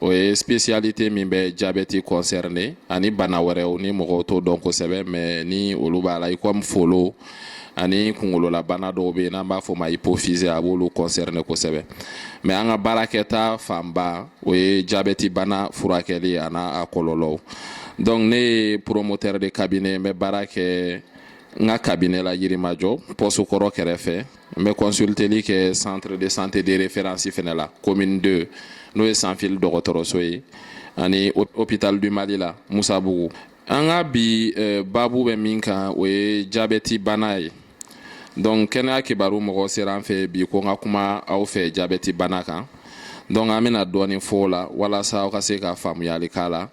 o ye spécialité min bɛ jabɛti concerné ani bana wɛrɛw ni mɔgɔw t'o dɔn kosɛbɛ mais ni olu b'a la i comme folo ani kungololabana dɔw bɛ yen n'an b'a fɔ ma hypophyse a b'olu concerné kosɛbɛ mais an ka baarakɛta fanba o ye jabɛti bana furakɛli an'a kɔlɔlɔw donc ne ye promoteur de cabinet n bɛ baara kɛ n ka cabinet la Yirimajɔ poste kɔrɔ kɛrɛfɛ N bɛ consulteli kɛ centre de santé de référence fɛnɛ la commune 2 n'o ye Sanfili dɔgɔtɔrɔso ye ani hôpital du Mali la Musabugu an ka bi eh, baabu bɛ min kan o ye jabɛti bana ye donc kɛnɛya kibaru mɔgɔ sera an fɛ bi ko n ka kuma aw fɛ jabɛti bana kan donc an bɛna dɔɔni fɔ o la walasa aw ka se ka faamuyali k'a la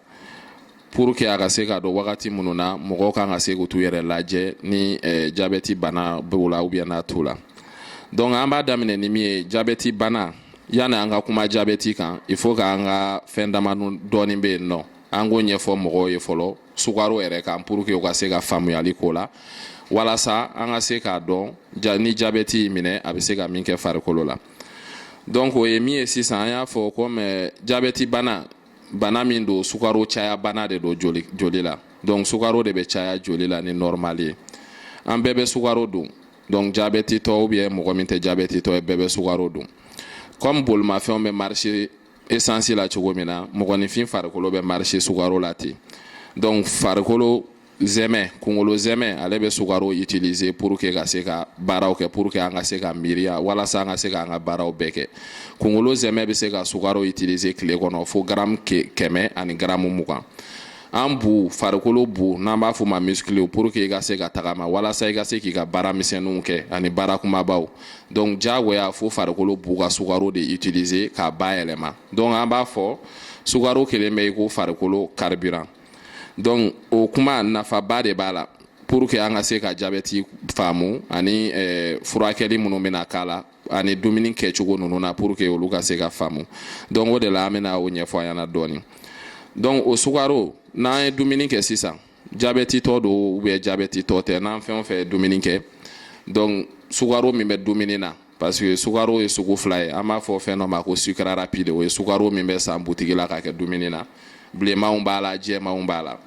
Pour que a ka se k'a dɔn wagati minnu na mɔgɔw kan ka se k'u t'u yɛrɛ lajɛ ni eh, jabɛti bana b'u la ou bien n'a t'u la donc an b'a daminɛ ni min ye jabɛti bana yanni an ka kuma jabɛti kan il faut que an ka fɛn dama dɔɔni bɛ yen nɔ an k'o ɲɛfɔ mɔgɔw ye fɔlɔ sukaro yɛrɛ kan pour que u ka se ka faamuyali k'o la walasa an ka se k'a dɔn ni jabɛti y'i minɛ a bɛ se ka min kɛ farikolo la donc o ye min ye sisan an y'a fɔ comme eh, jabɛti bana bana min don sukaro caya bana de don joli la donc sukaro de bɛ caya joli la ni normal ye an bɛɛ bɛ sukaro dun donc jabɛtitɔ ou bien mɔgɔ min tɛ jabɛtitɔ ye bɛɛ bɛ sukaro dun comme bolimafɛnw bɛ marché essence la cogo min na mɔgɔninfin farikolo bɛ marché sukaro la ten donc farikolo zɛmɛ kungolo zɛmɛ ale bɛ sukaro utiliser pour que i ka se ka baaraw kɛ pour que an ka se ka miiriya walasa an ka se ka an ka baaraw bɛɛ kɛ kungolo zɛmɛ bɛ se ka sukaro utiliser tile kɔnɔ fo garamu kɛmɛ ani garamu mugan an bu farikolo bu n'an b'a f'o ma muscle pour que i ka se ka tagama walasa i ka se k'i ka baara misɛnninw kɛ ani baara kumabaw donc diyagoya fo farikolo bu ka sukaro de utiliser k'a bayɛlɛma donc an b'a fɔ sukaro kelen bɛ i ko farikolo carburant donc o kuma nafaba de b'a la pour que an ka se ka jabɛti faamu ani eh, furakɛli minnu bɛna k'a la ani dumuni kɛcogo ninnu na pour que olu ka se ka faamu donc o de la an bɛna o ɲɛfɔ aw ɲɛna dɔɔni donc o sukaro n'an ye dumuni kɛ sisan jabɛtitɔ don ou bien jabɛtitɔ tɛ n'an fɛn o fɛn ye dumuni kɛ donc sukaro min bɛ dumuni na parce que sukaro ye sugu fila ye an b'a fɔ fɛn dɔ ma ko sucre rapide o ye sukaro min bɛ san butigi la k'a kɛ dumuni na bilenmanw b'a la jɛmanw b'a la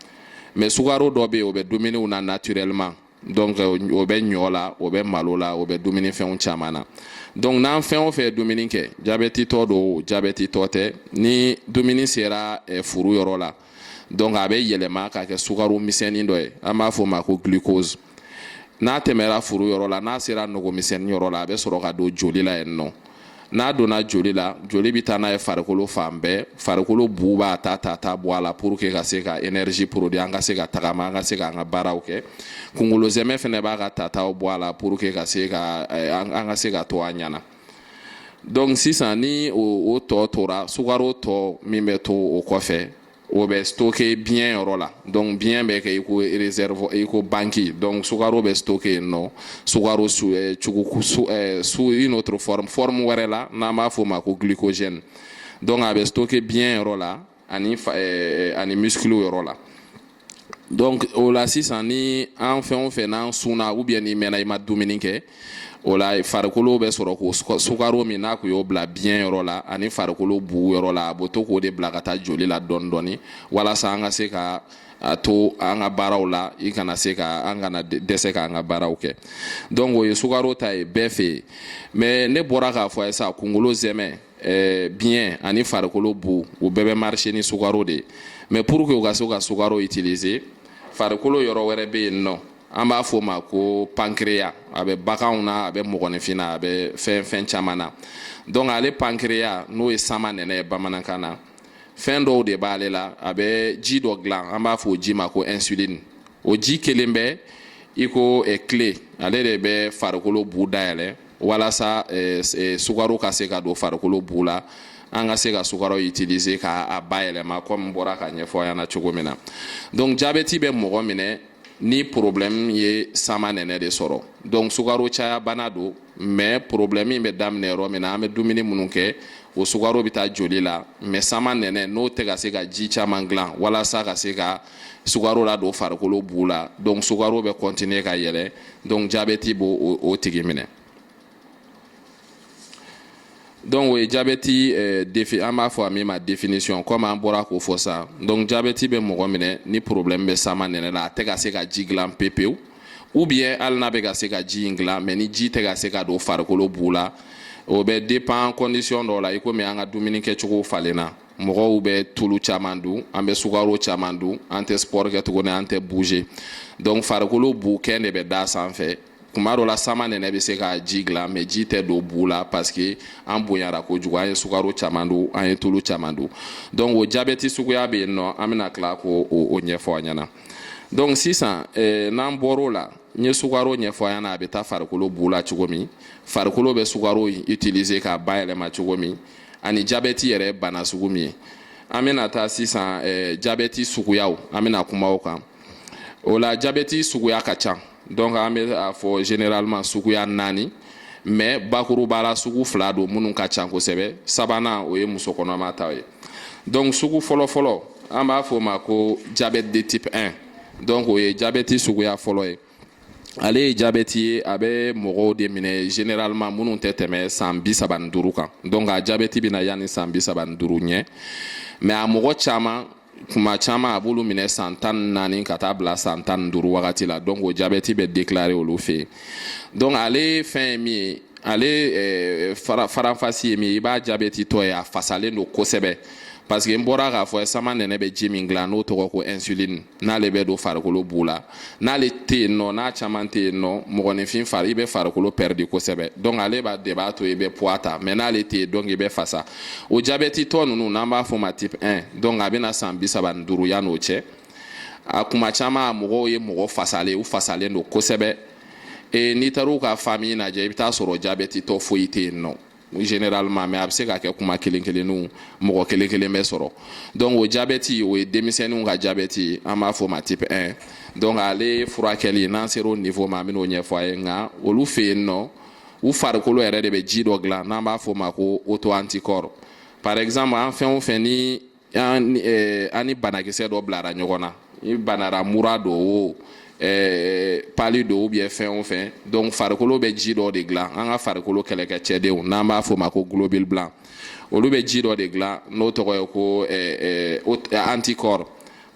mais sukaro dɔ bɛ yen o bɛ dumuniw na naturellement donc o bɛ ɲɔ la o bɛ malo la o bɛ dumuni fɛnw caman na donc n'an fɛn o fɛn ye dumuni kɛ jabɛtitɔ don jabɛtitɔ tɛ ni dumuni sera eh, furu yɔrɔ la donc a bɛ yɛlɛma ka kɛ sukaro misɛnnin dɔ ye an b'a fɔ o ma ko glucose n'a tɛmɛra furu yɔrɔ la n'a sera nogomisɛnnin yɔrɔ la a bɛ sɔrɔ ka don joli la yen nɔ n'a donna joli la joli bɛ taa n'a ye farikolo fan bɛɛ farikolo bu b'a ta ta ta bɔ a la pour que ka se ka énergie produit an ka se ka tagama an ka se k'an ka baaraw kɛ kungolo zɛmɛ fɛnɛ b'a ka tataw bɔ a la pour que ka se ka eh, an ka se ka to an ɲɛna donc sisan ni o tɔ tora sukaro tɔ min bɛ to o kɔfɛ o bɛ stocké biɲɛ yɔrɔ la donc biɲɛ bɛ kɛ i ko réserve i ko banki donc sukaro bɛ stocké yen nɔ sukaro sous eh, cugu sous, eh, sous une autre forme forme wɛrɛ la n'an b'a fɔ o ma ko glycogène donc a bɛ stocké biɲɛ yɔrɔ la ani eh, ani muscle yɔrɔ la donc o la sisan ni an fɛn o fɛn n'an sunna ou bien n'i mɛnna i ma dumuni kɛ o la farikolo bɛ sɔrɔ k'o sukaro min n'a tun y'o bila biɲɛ yɔrɔ la ani farikolo bu yɔrɔ la a b'o to k'o de bila ka taa joli la dɔɔni dɔɔni walasa an ka se ka a to an ka baaraw la i kana se ka an kana dɛsɛ k'an ka baaraw kɛ donc o ye sukaro ta ye bɛɛ fɛ yen mais ne bɔra k'a fɔ a ye sa kunkolo zɛmɛ eh, biɲɛ ani farikolo bu o bɛɛ bɛ marcher ni sukaro de ye mais pour que u ka se ka sukaro utiliser farikolo yɔrɔ wɛrɛ bɛ yen nɔ an b'a fɔ o ma ko pancréas a bɛ baganw na a bɛ mɔgɔninfin na a bɛ fɛn fɛn caman na donc ale pancréas n'o ye sama nɛnɛ ye bamanankan na fɛn dɔw de b'ale la a bɛ ji dɔ dilan an b'a fɔ o ji ma ko insuline o ji kelen bɛ i ko eh, clé ale de bɛ farikolo bu dayɛlɛ walasa eh, eh, sukaro ka se ka don farikolo bu la an ka se ka sukaro utiliser k'a bayɛlɛma kɔmi bɔra k'a ɲɛfɔ an ɲɛna cogo min na donc jabɛti bɛ mɔgɔ minɛ ni problème ye sama nɛnɛ de sɔrɔ donc sukaro caya bana don mais problème in bɛ daminɛ yɔrɔ min na an bɛ dumuni minnu kɛ o sukaro bɛ taa joli la mais sama nɛnɛ n'o tɛ ka se ka ji caman dilan walasa ka se ka sukaro ladon farikolo bu la donc sukaro bɛ continuer ka yɛlɛ donc jabɛti b'o tigi minɛ donc o ye jabɛti eh, defi an b'a fɔ a min ma définition comme an bɔra k'o fɔ sa donc jabɛti bɛ mɔgɔ minɛ ni problème bɛ sama nɛnɛ la a tɛ ka se ka ji dilan pepewu ou bien hali n'a bɛ ka se ka ji in dilan mais ni ji tɛ ka se ka don farikolo bu la o bɛ dépend condition dɔw la i komi an ka dumuni kɛcogo falenna mɔgɔw bɛ tulu caman dun an bɛ sukaro caman dun an tɛ sport kɛ tuguni an tɛ bouger donc farikolo bu kɛn de bɛ d'a sanfɛ kuma dɔ la sama nɛnɛ bɛ se ka ji dilan mais ji tɛ don bu la parce que an bonyara kojugu an ye sukaro caman dun an ye tulu caman dun donc o jabɛti suguya bɛ yen nɔ an bɛna tila k'o ɲɛfɔ an ɲɛna donc sisan eh, n'an bɔr'o la n ye sukaro ɲɛfɔ an ɲɛna a bɛ taa farikolo bu la cogo min farikolo bɛ sukaro utiliser k'a bayɛlɛma cogo min ani jabɛti yɛrɛ bana sugu min ye an bɛna taa sisan eh, jabɛti suguyaw an bɛna kuma o kan o la jabɛti suguya ka ca donc an bɛ a fɔ généralement suguya naani mais bakuruba la sugu fila don minnu ka ca kosɛbɛ sabanan o ye muso kɔnɔma ta ye donc sugu fɔlɔfɔlɔ an b'a fɔ o ma ko diabète de type 1 donc o ye jabɛti suguya fɔlɔ ye ale ye jabɛti ye a bɛ mɔgɔw de minɛ généralement minnu tɛ tɛmɛ san bi saba ni duuru kan donc a jabɛti bɛ na yanni san bi saba ni duuru ɲɛ mais a mɔgɔ caman kuma caman a b'olu minɛ san tan naani ka taa bila san tan ni duuru wagati la donc o jabɛti bɛ déclaré olu fɛ yen donc ale fɛn ye min ye ale eh, fara faranfasi ye min ye i b'a jabɛtitɔ ye a fasalen don kosɛbɛ parce que n bɔra k'a fɔ samanɛnɛ bɛ ji min dilan n'o tɔgɔ ko insuline n'ale bɛ don farikolo bu la n'ale tɛ yen nɔ n'a caman tɛ yen nɔ mɔgɔninfin fari i bɛ farikolo pɛridi kosɛbɛ donc ale b'a de b'a to i bɛ poids ta mais n'ale tɛ yen donc i bɛ fasa o jabɛtitɔ ninnu n'an b'a fɔ ma type 1 donc a bɛ na san bi saba ni duuru yan'o cɛ a kuma caman a mɔgɔw ye mɔgɔ fasalen u fasalen don kosɛbɛ e n'i taar'u ka famille lajɛ i bɛ taa sɔrɔ jabɛtitɔ foyi tɛ yen nɔ généralement mais a bɛ se ka kɛ kuma kelen kelenninw mɔgɔ kelen kelen bɛ sɔrɔ donc o jabɛti o ye denmisɛnninw ka jabɛti ye an b'a fɔ ma type 1 donc ale furakɛli n'an sera o niveau ma an bɛn'o ɲɛfɔ a ye nka olu fɛ yen nɔ u farikolo yɛrɛ de bɛ ji dɔ dilan n'an b'a fɔ o ma ko auto anticorps par exemple an fɛn o fɛn ni an eh, ni banakisɛ dɔ bilara ɲɔgɔn na i banara mura don o eh, pali don ou bien fɛn o fɛn donc farikolo bɛ ji dɔ de dilan an ka farikolo kɛlɛkɛcɛdenw n'an b'a fɔ ma ko globule blanc olu bɛ ji dɔ de dilan n'o tɔgɔ ye ko eh, anticorps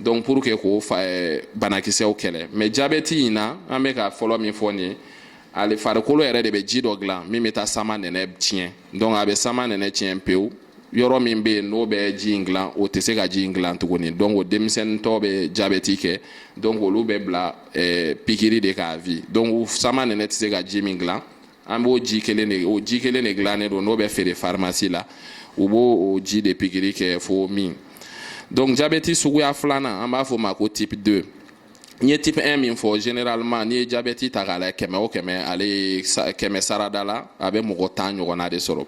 donc pour que k'o banakisɛw kɛlɛ mais jabɛti in na an bɛ ka fɔlɔ min fɔ nin ye ale farikolo yɛrɛ de bɛ ji dɔ dilan min bɛ taa samanɛnɛ tiɲɛ donc a bɛ samanɛnɛ tiɲɛ pewu yɔrɔ min bɛ yen n'o bɛ ji in dilan o tɛ se ka ji in dilan tuguni donc o denmisɛnnintɔ bɛ jabɛti kɛ donc olu bɛ bila eh, pikiri de kan à vie donc samanɛnɛ tɛ se ka ji min dilan an b'o ji kelen de o ji kelen de dilannen don n'o bɛ feere farimasi la u b'o o ji de pikiri kɛ fo min donc jabɛti suguya filanan an b'a fɔ o ma ko type 2 n ye type 1 min fɔ généralement n'i ye jabɛti ta k'a lajɛ kɛmɛ o kɛmɛ ale ye kɛmɛ sarada la a bɛ mɔgɔ tan ɲɔgɔnna de sɔrɔ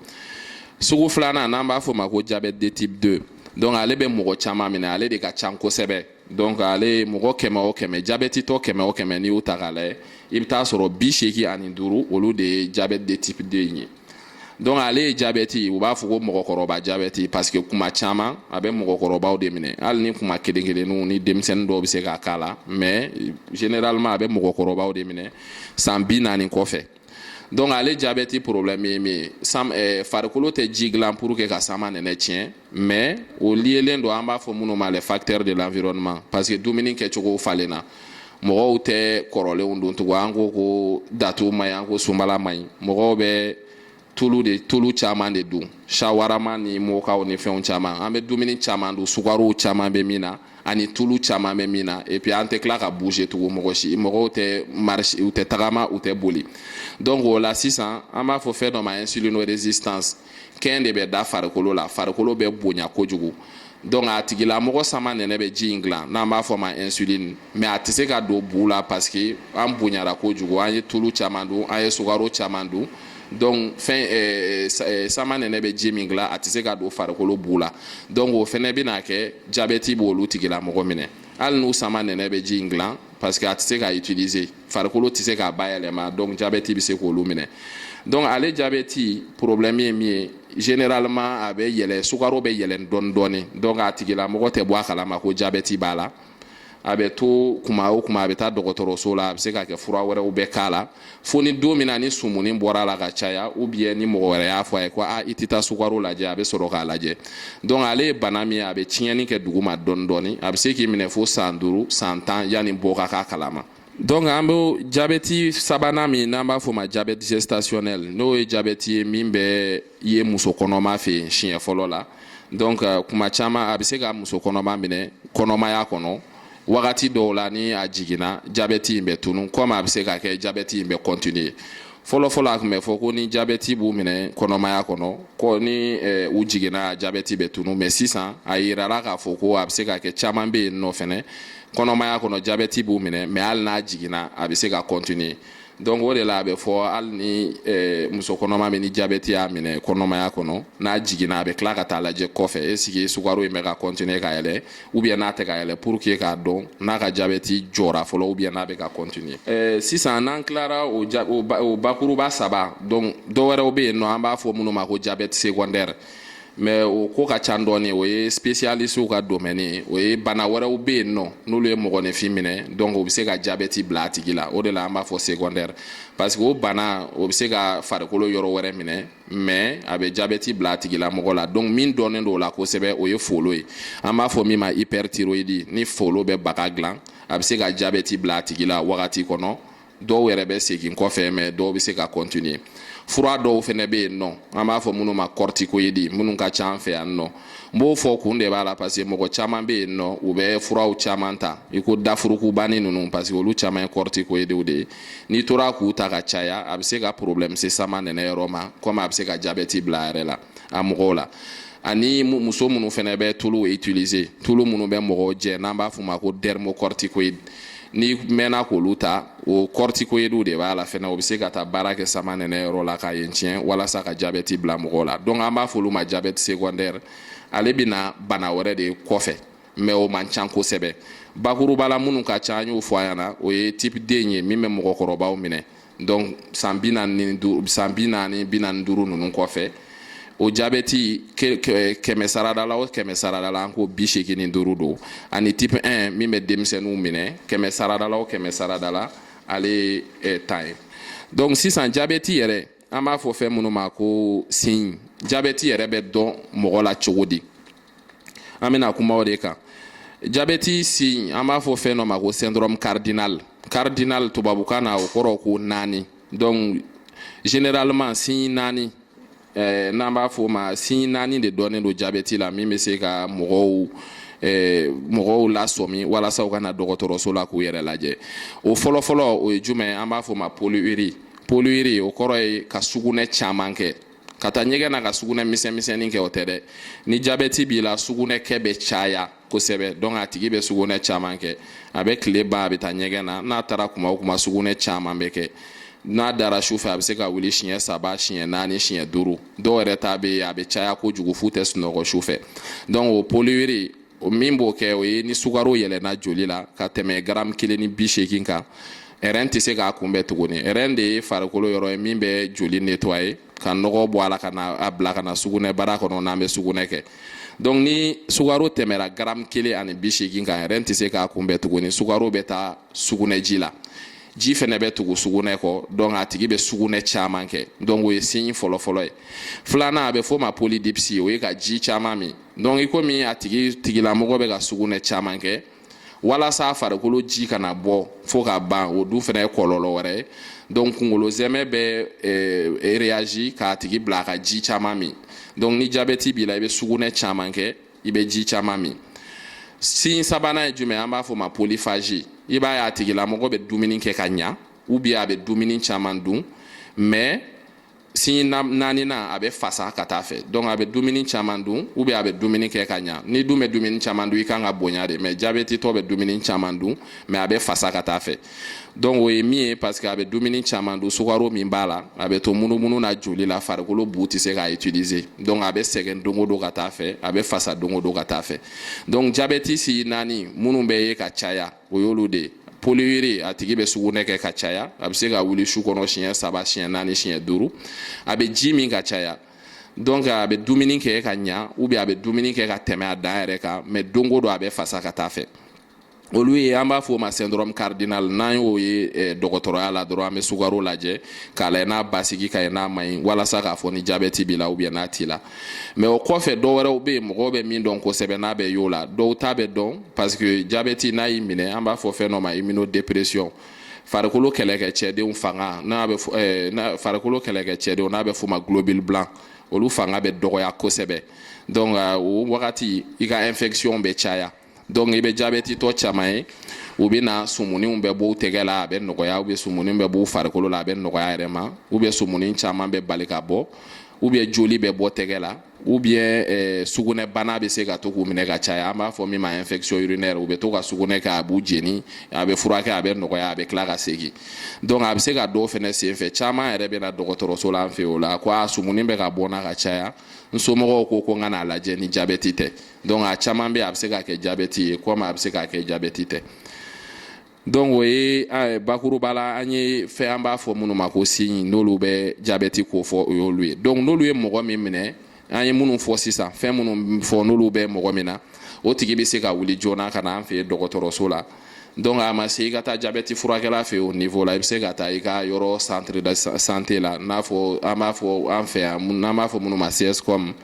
sugu filanan n'an b'a fɔ ma ko diabète de type 2 donc ale bɛ mɔgɔ caman minɛ ale de ka ca kosɛbɛ donc ale mɔgɔ kɛmɛ o kɛmɛ jabɛtitɔ kɛmɛ o kɛmɛ n'i y'u ta k'a lajɛ i bɛ taa sɔrɔ bi seegin ani duuru olu de ye diabète de type 2 in ye donc ale ye jabɛti u b'a fɔ ko mɔgɔkɔrɔba jabɛti parce que kuma caman a bɛ mɔgɔkɔrɔbaw de minɛ hali ni kuma kelen kelenninw ni denmisɛnnin dɔw bɛ se ka k'a la mais généralement a bɛ mɔgɔkɔrɔbaw de minɛ san bi naani kɔfɛ donc ale jabɛti problème ye min ye sam eh, farikolo tɛ ji dilan pour que ka samanɛnɛ tiɲɛ mais o liyelen don an b'a fɔ minnu ma les facteurs de l'environnement parce que dumuni kɛcogow falenna mɔgɔw tɛ kɔrɔlenw dun tugun an ko ko datu man ɲi an ko sunbala man ɲi mɔgɔw bɛ tulu de tulu caman de dun sawarama ni mɔkaw ni fɛnw caman an bɛ dumuni caman dun sukarow caman bɛ min na ani tulu caman bɛ min na et puis an tɛ tila ka bouger tugun mɔgɔ si mɔgɔw tɛ marche u tɛ tagama u tɛ boli donc o la sisan an b'a fɔ fɛn dɔ ma insulinorésistance kɛn de bɛ da farikolo la farikolo bɛ bonya kojugu donc a tigilamɔgɔ samanɛnɛ bɛ ji in dilan n'an b'a fɔ ma insuline mais a tɛ se ka don bu la parce que an bonyara kojugu an ye tulu caman dun an ye sukaro caman dun donc fɛn eh, eh, samanɛnɛ bɛ ji min dilan a tɛ se ka don farikolo bu la donc o fɛnɛ bɛna kɛ jabɛti b'olu tigilamɔgɔ minɛ hali n'u samanɛnɛ bɛ ji in dilan parce que a tɛ se k'a utiliser farikolo tɛ se k'a bayɛlɛma donc jabɛti bɛ se k'olu minɛ donc ale jabɛti problème ye min ye généralement a bɛ yɛlɛ sukaro bɛ yɛlɛ dɔɔni dɔɔni donc a tigilamɔgɔ tɛ bɔ a kalama ko jabɛti b'a la a bɛ to kuma o kuma a bɛ taa dɔgɔtɔrɔso la a bɛ se ka kɛ fura wɛrɛw bɛ k'a la fo ni don min na ni sumuni bɔra a la ka caya ou bien ni mɔgɔ wɛrɛ y'a fɔ a ye ko a i tɛ taa sukaro lajɛ a bɛ sɔrɔ k'a lajɛ donc ale ye bana min ye a bɛ tiɲɛni kɛ duguma dɔɔni dɔɔni a bɛ se k'i minɛ fo san duuru san tan yanni bɔ ka k'a kalama donc an bɛ jabɛti sabanan min n'an b'a fɔ ma jabɛti gestationnel n'o ye jabɛti ye min bɛ ye muso kɔnɔma fɛ yen siɲɛ fɔlɔ la donc kuma caman a bɛ se ka muso kɔnɔma minɛ kɔnɔmaya kɔnɔ wagati dɔw la ni a jiginna jabɛti in bɛ tunu comme a bɛ se ka kɛ jabɛti in bɛ continuer fɔlɔfɔlɔ a tun bɛ fɔ ko ni jabɛti b'u minɛ kɔnɔmaya kɔnɔ ko ni eh, u jiginna jabɛti bɛ tunu mais sisan a yirala k'a fɔ ko a bɛ se ka kɛ caman bɛ yen nɔ fɛnɛ kɔnɔmaya kɔnɔ jabɛti b'u minɛ mais hali n'a jiginna a bɛ se ka continuer donc o de la a bɛ fɔ hali ni eh, muso kɔnɔma min ni jabɛti y'a minɛ kɔnɔmaya kɔnɔ n'a jiginna a bɛ tila ka taa lajɛ kɔfɛ est-ce que sukaro in bɛ ka continuer ka yɛlɛ ou bien n'a tɛ ka yɛlɛ pour que k'a dɔn n'a ka jabɛti jɔra fɔlɔ ou bien n'a bɛ ka continuer eh, sisan n'an tilara o, o, o bakuruba saba donc dɔ wɛrɛw bɛ yen nɔ an b'a fɔ minnu ma ko jabɛti secondaire mais o ko ka ca dɔɔni o ye spécialistew ka domaine ye o ye bana wɛrɛw bɛ yen nɔ n'olu ye mɔgɔninfin minɛ donc o bɛ se ka jabɛti bila a tigi la o de la an b'a fɔ secondaire parce que o bana o bɛ se ka farikolo yɔrɔ wɛrɛ minɛ mais a bɛ jabɛti bila a tigilamɔgɔ la donc min dɔnnen don o la kosɛbɛ o ye folo ye an b'a fɔ min ma hyperthyroïdie ni folo bɛ baga dilan a bɛ se ka jabɛti bila a tigi la wagati kɔnɔ dɔw yɛrɛ bɛ segin kɔfɛ mais dɔw bɛ se ka continuer fura dɔw fana bɛ yen nɔ an b'a fɔ minnu ma corticoïde minnu ka ca an fɛ yan nɔ n b'o fɔ kun de b'a la parce que mɔgɔ caman bɛ yen nɔ u bɛ furaw caman ta i ko dafurukubani ninnu parce que olu caman ye corticoïdew de ye n'i tora k'u ta ka caya a bɛ se ka problème se samanɛnɛ yɔrɔ ma comme a bɛ se ka jabɛti bila a yɛrɛ la a mɔgɔw la ani muso minnu fana bɛ tulu utiliser tulu minnu bɛ mɔgɔw jɛ n'an b'a f'u ma ko dermocorticoïde n'i mɛnna k'olu ta o corticoïdew de b'a la fɛnɛ o bɛ se ka taa baara kɛ samanɛnɛ yɔrɔ la ka yen tiɲɛ walasa ka jabɛti bila mɔgɔw la donc an b'a fɔ olu ma jabɛti secondaire ale bɛna bana wɛrɛ de kɔfɛ mais o man ca kosɛbɛ bakuruba la minnu ka ca an y'o fɔ a ɲɛna o ye type 2 ye min bɛ mɔgɔkɔrɔbaw minɛ donc san bi naani bi naani duuru ninnu kɔfɛ o jabɛti kɛmɛ sarada la o kɛmɛ sarada la an ko bi seegin ni duuru don ani type 1 min bɛ denmisɛnninw minɛ kɛmɛ sarada la o kɛmɛ sarada la ale ye tan ye donc sisan jabɛti yɛrɛ an b'a fɔ fɛn minnu ma ko signe jabɛti yɛrɛ bɛ dɔn mɔgɔ la cogo di an bɛna kuma o de kan jabɛti signe an b'a fɔ fɛn dɔ ma ko syndrome cardinal cardinal tubabukan na o kɔrɔ ko naani donc généralement signe naani eh, n'an b'a fɔ o ma signe naani de dɔnnen don jabɛti la min bɛ se ka mɔgɔw eh, mɔgɔw lasɔmi walasa u ka na dɔgɔtɔrɔso la k'u yɛrɛ lajɛ o fɔlɔfɔlɔ o ye jumɛn an b'a fɔ o ma polyurie polyurie o kɔrɔ ye ka sugunɛ caman kɛ ka taa ɲɛgɛn na ka sugunɛ misɛnmisɛnnin kɛ o tɛ dɛ ni jabɛti b'i la sugunɛkɛ bɛ caya kosɛbɛ donc a tigi bɛ sugunɛ caman kɛ a bɛ tile ban a bɛ taa ɲɛgɛn na n'a taara kuma o kuma sugunɛ caman bɛ kɛ n'a dara su fɛ a bɛ se ka wuli siɲɛ saba siɲɛ naani siɲɛ duuru dɔw yɛrɛ ta bɛ yen a bɛ caya kojugu f'u tɛ sunɔgɔ su fɛ donc o polyurie o min b'o kɛ o ye ni sukaro yɛlɛnna joli la ka tɛmɛ garamu kelen ni bi seegin kan rein tɛ se k'a kunbɛn tuguni rein de ye farikolo yɔrɔ ye min bɛ joli nettoyer ka nɔgɔ bɔ a la ka na a bila ka na sugunɛbara kɔnɔ n'an bɛ sugunɛ kɛ donc ni sukaro tɛmɛra garamu kelen ani bi seegin kan rein tɛ se k'a kunbɛn tuguni sukaro bɛ taa sugunɛji la ji fɛnɛ bɛ tugu sugunɛ kɔ donc a tigi bɛ sugunɛ caman kɛ donc o ye signe fɔlɔfɔlɔ ye filanan a bɛ fɔ o ma polydipsie o ye ka ji caman min donc i komi a tigilamɔgɔ bɛ ka sugunɛ caman kɛ walasa farikolo ji kana bɔ fo ka ban o dun fɛnɛ ye kɔlɔlɔ wɛrɛ ye donc kungolo zɛmɛ bɛ eh, réagir k'a tigi bila a ka ji caman min donc ni jabɛti b'i la i bɛ sugunɛ caman kɛ i bɛ ji caman min signe sabanan ye jumɛn an b'a fɔ o ma polyphagie i b'a ye a tigilamɔgɔ bɛ dumuni kɛ ka ɲa ou bien a bɛ dumuni caman dun mais signe naaninan a bɛ fasa ka taa fɛ donc a bɛ dumuni caman dun ou bien a bɛ dumuni kɛ ka ɲa n'i dun bɛ dumuni caman dun i kan ka bonya de mais jabɛtitɔ bɛ dumuni caman dun mais a bɛ fasa ka taa fɛ donc o ye min ye parce que a bɛ dumuni caman dun sukaro min b'a la a bɛ to munumunu na joli la farikolo bu tɛ se k'a utiliser donc a bɛ sɛgɛn don o don ka taa fɛ a bɛ fasa don o don ka taa fɛ donc jabɛti signe naani minnu bɛ ye ka caya o y'olu de ye polyurie a tigi bɛ sugunɛ kɛ ka caya a bɛ se ka wuli su kɔnɔ siɲɛ saba siɲɛ naani siɲɛ duuru a bɛ ji min ka caya donc a bɛ dumuni kɛ ka ɲa ou bien a bɛ dumuni kɛ ka tɛmɛ a dan yɛrɛ kan mais don o don a bɛ fasa ka taa fɛ olu ye an b'a fɔ o ma syndrome cardinal n'an y'o ye eh, dɔgɔtɔrɔya la dɔrɔn an bɛ sukaro lajɛ k'a lajɛ n'a basigi ka ɲi n'a man ɲi walasa k'a fɔ ni jabɛti b'i la ou bien n'a t'i la mais o kɔfɛ dɔ wɛrɛw bɛ yen mɔgɔw bɛ min dɔn kosɛbɛ n'a bɛ y'o la dɔw ta bɛ dɔn parce que jabɛti n'a y'i minɛ an b'a fɔ fɛn dɔ ma immunodépression farikolo kɛlɛkɛcɛdenw fanga n'a bɛ eh, farikolo kɛlɛkɛcɛdenw n'a bɛ f'o ma globule blanc olu fanga bɛ dɔgɔya kosɛbɛ donc o wagati i ka infection bɛ caya donc i bɛ jabɛtitɔ caman ye u bɛ na sumuninw bɛ b'u tɛgɛ la a bɛ nɔgɔya ou bien sumuni bɛ b'u farikolo la a bɛ nɔgɔya yɛrɛ ma ou bien sumuni caman bɛ bali ka bɔ ou bien joli bɛ bɔ tɛgɛ la ou bien eh, sugunɛbana bɛ se ka to k'u minɛ ka caya an b'a fɔ min ma infection urinaire u bɛ to ka sugunɛ kɛ a b'u jeni a bɛ furakɛ a bɛ nɔgɔya a bɛ tila ka segin donc a bɛ se ka dɔn o fɛnɛ senfɛ caman yɛrɛ bɛ na dɔgɔtɔrɔso la an fɛ o la ko a sumuni bɛ ka bɔ n na ka caya n somɔgɔw ko ko n ka n'a lajɛ ni jabɛti tɛ donc a caman bɛ a bɛ se ka kɛ jabɛti ye comme a bɛ se ka kɛ jabɛti tɛ donc o ye bakuruba la an ye fɛn an b'a fɔ minnu ma ko signe n'olu bɛ jabɛti kofɔ o y'olu ye donc n'olu ye mɔgɔ min minɛ an ye minnu fɔ sisan fɛn minnu fɔ n'olu bɛ mɔgɔ min na o tigi bɛ se ka wuli joona ka na an fɛ dɔgɔtɔrɔso la donc a ma se i ka taa jabɛti furakɛla fɛ o niveau la i bɛ se ka taa i ka yɔrɔ centre de santé la n'a fɔ an b'a fɔ an fɛ yan n'an b'a fɔ minnu ma CSCOM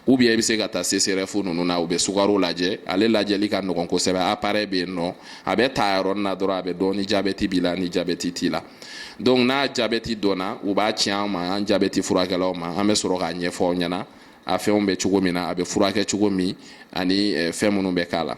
ou bien i bɛ se ka taa CSREF ninnu na u bɛ sukaro lajɛ ale lajɛli ka nɔgɔn kosɛbɛ appareil bɛ yen n'o a bɛ ta yɔrɔnin na dɔrɔn a bɛ dɔn ni jabɛti b'i la ni jabɛti t'i la donc n'a jabɛti dɔnna u b'a ci an ma an jabɛti furakɛlaw ma an bɛ sɔrɔ k'a ɲɛfɔ aw ɲɛna a fɛnw bɛ cogo min na a bɛ furakɛ cogo min ani fɛn minnu bɛ k'a la